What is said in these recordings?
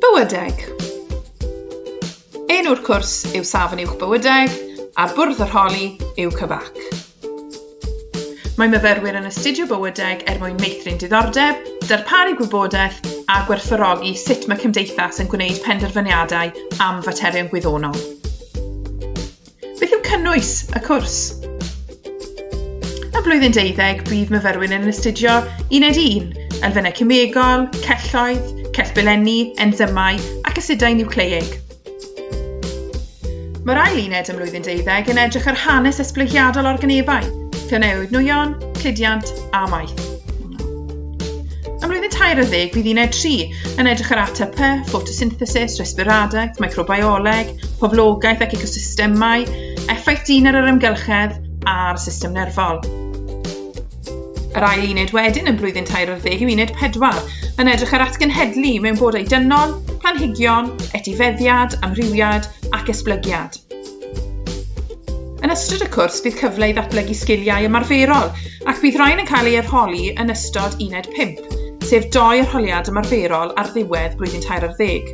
Bywydeg Enw'r cwrs yw Safon Uwch Bywydeg a bwrdd yr holi yw Cyfac. Mae myfyrwyr yn astudio bywydeg er mwyn meithrin diddordeb, darparu gwybodaeth a gwerthfawrogi sut mae cymdeithas yn gwneud penderfyniadau am faterion gwyddonol. Beth yw cynnwys y cwrs? Ym mlwyddyn deuddeg, bydd myfyrwyr yn astudio uned 1, elfennau cymegol, celloedd, cell belenni, enzymau ac asidau niwcleiig. Mae'r ail uned ym mlwyddyn deuddeg yn edrych ar hanes esblygiadol organebau, llynewid nwyon, cludiant a maeth. Ym mlwyddyn tair y ddeg bydd uned 3 yn edrych ar ATP, ffotosynthesis, resbiradaeth, microbioleg, poblogaeth ac ecosystemau, effaith dyn ar yr ymgylchedd a'r system nerfol. Yr ail uned wedyn yn blwyddyn tair o'r ddeg yw uned pedwar, yn edrych ar atgenhedlu mewn bodau dynol, planhigion, etifeddiad, amrywiad ac esblygiad. Yn ystod y cwrs, bydd cyfle i ddatblygu sgiliau ymarferol ac bydd rhain yn cael ei arholi yn ystod uned 5, sef doi arholiad ymarferol ar ddiwedd blwyddyn tair ar ddeg.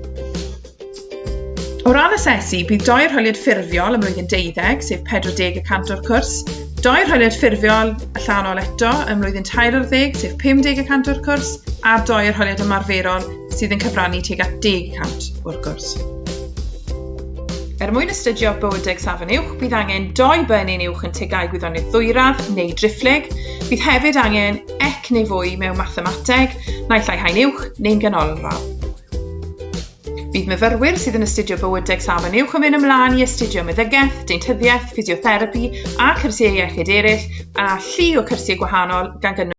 O ran asesu, bydd doi arholiad ffurfiol ym mlwyddyn deuddeg, sef 40 y cant o'r cwrs, doi arholiad ffurfiol allanol eto ym mlwyddyn tair ar ddeg, sef 50 y cant o'r cwrs, a doi arholiad ymarferol sydd yn cyfrannu tuag at 10 y cant o'r cwrs. Er mwyn astudio bywydeg safon uwch, bydd angen doi bynyn uwch yn tegau gwyddoniaeth ddwyradd neu driphlyg. Bydd hefyd angen ec neu fwy mewn mathemateg, naill ai haen uwch neu'n ganolradd. Bydd myfyrwyr sydd yn astudio bywydeg safon uwch yn mynd ymlaen i astudio meddygaeth, deintyddiaeth, ffisiotherapi a cyrsiau iechyd eraill, a llu o cyrsiau gwahanol gan gynnwys